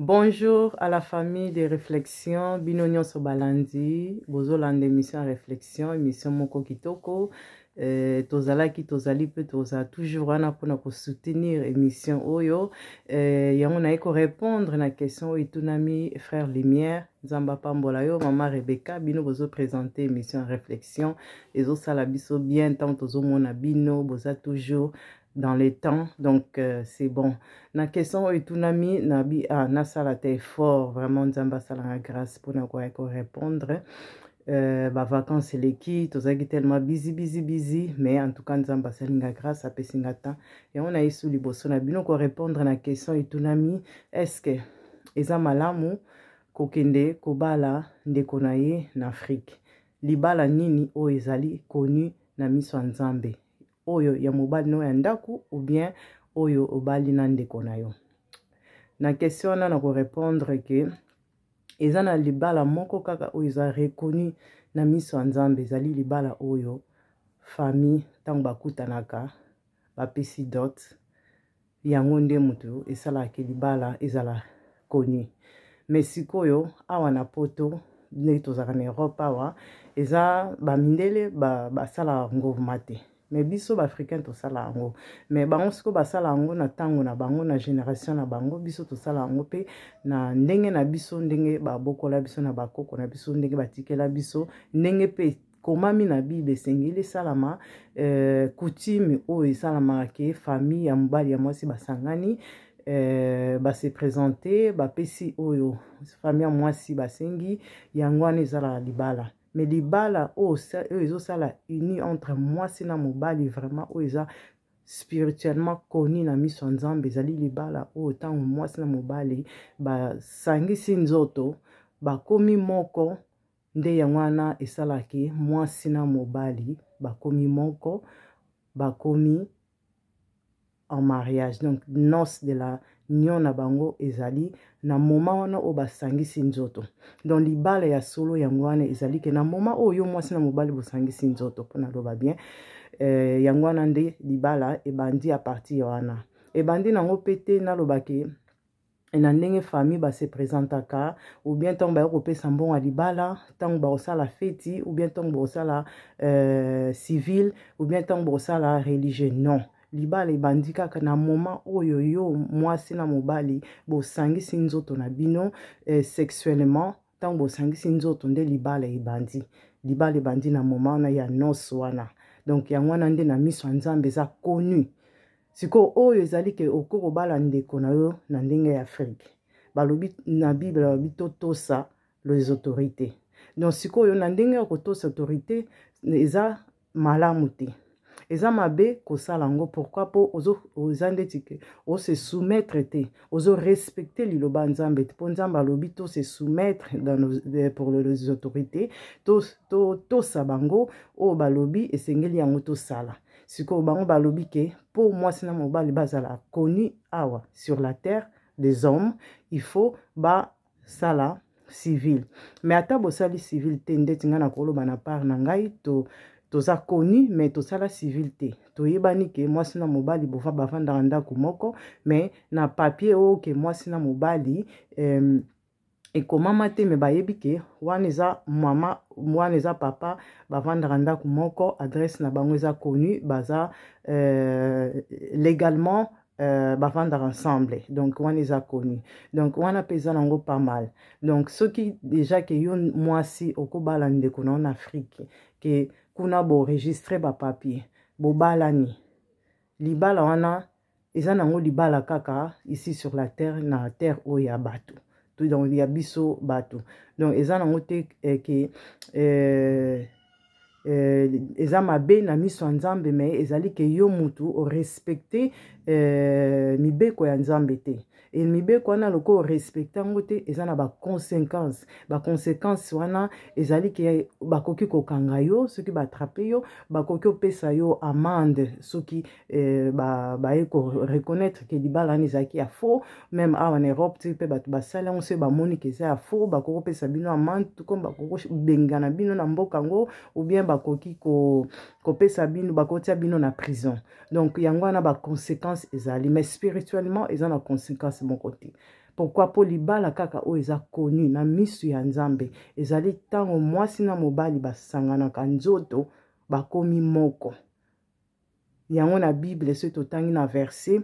Bonjour à la famille de réflexion bino nyonso balandi bozolanda émission ya réflexion émission moko kitoko euh, tozalaki tozali mpe tozala toujours wana mpona kosoutenir émission oyo euh, yango naye korépondre na question oyo etunami frère lumière nzambe apambola yo mama rebecca bino bozopresente émission ya réflexion ezosala biso bien ntango tozomona bino boza toujours dans les temps donc euh, c'est bon na question oyo etunami nabi ah, nasala te effort vraiment nzambe asalanga grâce mpona koya korépondre euh, bavacance eleki tozalaki tellement bizi bizi bizi mais en tout cas nzambe asali nga grâce apesi nga temps yango na yesu liboso na bino korépondre na question etunami est ce que eza malamu kokende kobala ndeko na ye na afrike libala nini oyo ezali connu na miso ya nzambe oyo ya mobali no ya ndako ou bien oyo obali na ndeko na yo na question wana na korepondre ke eza na libala moko kaka oyo eza reconnu na miso ya nzambe ezali libala oyo famille ntango bakutanaka bapesi dot yango nde moto esalaka ke libala ezala connu mais sikoyo awa na poto ndenge tozalaka na europe awa eza bamindele basalaka ba ngorma te mais biso baafricain tosala yango mais bango sikoyo basala yango na ntango na bango na génération na bango biso tosala yango mpe na ndenge na biso ndenge babokola biso na bakoko na biso ndenge batikela biso ndenge mpe ekomami na bible esengeli esalama euh, coutume oyo esalamaka ke famille ya mobali ya mwasi basangani euh, base présente bapesi oyo famille ya mwasi basengi yango wana ezalaka libala mais libala oyo ezosala uni entre mwasi na mobali vraiment oyo eza spirituellement connu na miso ya nzambe ezali libala oyo ntango mwasi na mobali basangisi nzoto bakomi moko Nde yango wana esalaki mwasi na mobali bakomi moko, bakomi en mariage. Donc noce de la nion na bango ezali na moma wana oyo basangisi nzoto. Donc libala ya solo yango wana ezali ke na moma oyo yo mwasi na mobali bosangisi nzoto mpo naloba bien. Eh, yango wana nde libala ebandi a partir wana. Ebandi nango mpe te naloba ke et na ndenge famille ba se presentaka ou bien ntango baye kopesa mbongo ya libala ntango bakosala feti ou bien ntango bakosala euh, civil ou bien ntango bakosala religieux non libala ebandi kaka na moment oyo yo mwasi na mobali bosangisi nzoto na bino eh, sexuellement ntango bosangisi nzoto nde libala ebandi libala ebandi na moment wana ya nose wana donc yango wana nde na miso ya nzambe eza connu sikoyo oyo ezali ke okoki kobala ndeko na yo na ndenge ya afrike balobi na bible balobi totosa les autorités donc sikoyo na ndenge ya kotosa autorité eza malamu te eza mabe kosala yango pourkui mpo oza ndeti ke ose soumettre te ozo respecte liloba nzambe te mpo nzambe alobi tose soumettre euh, pour les autorités totosa to, bango oyo balobi esengeli yango tosala sikoyo bango balobi ke mpo mwasi na mobali bazala connu awa sur la terre des hommes il faut basala civil mais ata bosali civil te ndeti ngai nakoloba na part na ngai to toza connu mais tosala civil te toyebani ke mwasi na mobali bova bavandaka ndako moko mais na papier oyo ke mwasi na mobali euh, ekomama te me bayebi ke wana eza mama wana eza papa bavandaka ndako moko adresse na bango eza connu baza euh, légalement Euh, bavandaka ensemble donc wana eza connu donc wana mpe eza nango pas mal donc soki déjà ke yo mwasi okobala ndeko na yo na afrique ke kuna boregistre bapapier bobalani libala wana eza nango libala kaka ici sur la terre na terre oyo ya bato to donc ya biso bato donc eza nango te eh, ke eh, eh, eza mabe na miso ya nzambe me ezali ke yo mutu orespecte eh, mibeko ya nzambe te e mibeko wana lokola orespecte yango te eza na baconsequence baconsequence wana ezali ke bakoki kokanga yo soki batrape yo bakoki opesa yo amande soki eh, ba, baye koreconnaitre ke libala wana ezalaki ya faux meme awa na europe ti mpe bato basali yango soki bamoni ke eza ya faux bakoki kopesa bino amande tuko bakoki kobengana bino na mboka yango ou bien bakoki ko, kopesa bino bakotia bino na prison donc yango wana baconséquence ezali mais spirituellement eza na conséquence moko te pourkui mpo libala kaka oyo eza koni na misu ya nzambe ezali ntango mwasi na mobali basanganaka nzoto bakomi moko yango na bible soki totangi na verset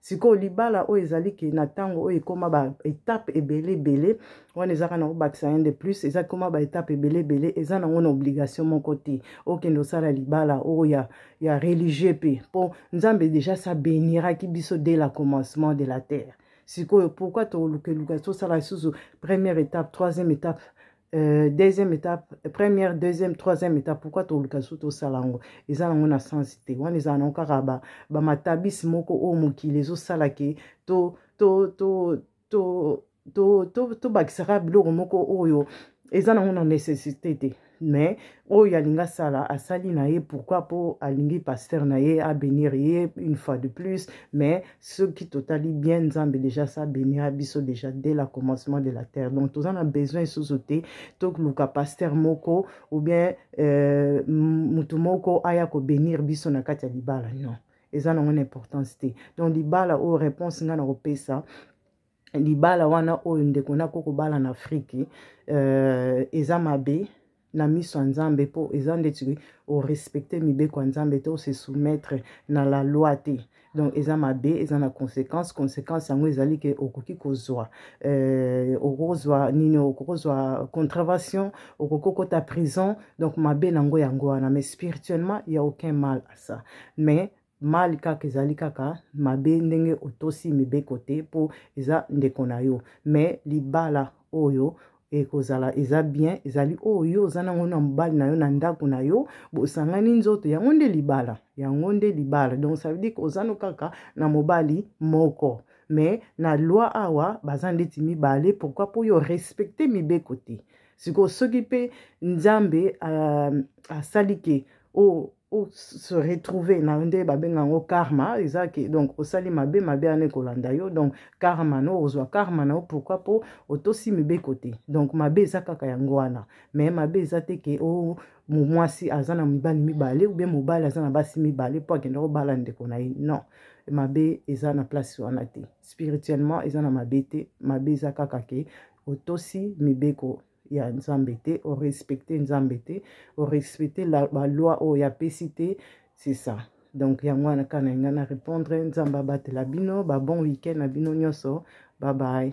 sikoyo libala oyo ezali ke na ntango oyo ekoma baetape ebele ebele wana ezaka nango baccien de plus eza koma baetape ebele ebele eza nango na obligation moko te okende osala libala oyo ya, ya religieux mpe mpo nzambe deja sa beniraki biso dès la commencement de la terre sikoyo pourkui tolukeluka tosala lisusu première étape troisième étape Euh, deuxième étape première deuxième troisième étape pourquoi toluka lisusu tosala yango eza nango na sensi te wana ezala nango kaka bamatabisi ba moko oyo mokili ezosala ke to to to to tobakisaka to, to, to biloko moko oyo eza nango na nécessité te mais oyo alingi asala asali na ye pourkui mpo alingi paster na ye abenir ye une fois de plus mais soki totali bien nzambe déjà sa benira biso déjà dès la commencement de la terre donc toza na besoin lisusu te toluka paster moko ou bien euh, motu moko aya kobenir biso na kati ya libala non eza nango na importance te donc libala oyo réponse ngai nakopesa libala wana oyo ndeko na koko bala na afriki euh, eza mabe na miso ya nzambe mpo eza ndeti orespecte mibeko ya nzambe te ose soumettre na la loi te donc eza mabe eza na conséquence conséquence yango ezali ke okoki kozwa euh, okozwa nini okozwa contravention okoki okota prison donc mabe na yango yango wana mais spirituellement ya aucun mal à ça mais mali kaka ezali kaka mabe ndenge otosi mibeko te mpo eza ndeko na yo mais libala oyo ekozala eza bien ezali oyo oh, yo oza nango na mobali na yo na ndako na yo bosangani nzoto yango nde libala yango nde libala donc ça veut dire que oza no kaka na mobali moko mais na loi awa baza ndeti mibale pourquoi mpo yo respecte mibeko te sikoyo soki mpe nzambe euh, asali ke o oh, o se retrouver na yo nde babenga yango karma eza ke donc osali mabe mabe wana ekolanda yo donc karma no ozwa karma na yo pourquoi mpo otosi mibeko te donc mabe eza kaka yango wana mais mabe eza te ke o oh, mwasi aza na mibali mibale oubien mobali aza na basi mibale mpo akenda kobala ndeko na ye non mabe eza na place wana te spirituellement eza na mabe te mabe eza kaka ke otosi mibeko ya nzambe te orespecte nzambe te orespecte baloi oyo apesi te c'est ça donc yango wana kaka na ngai na répondre nzambe abatela bino babon week-end na bino nyonso babaye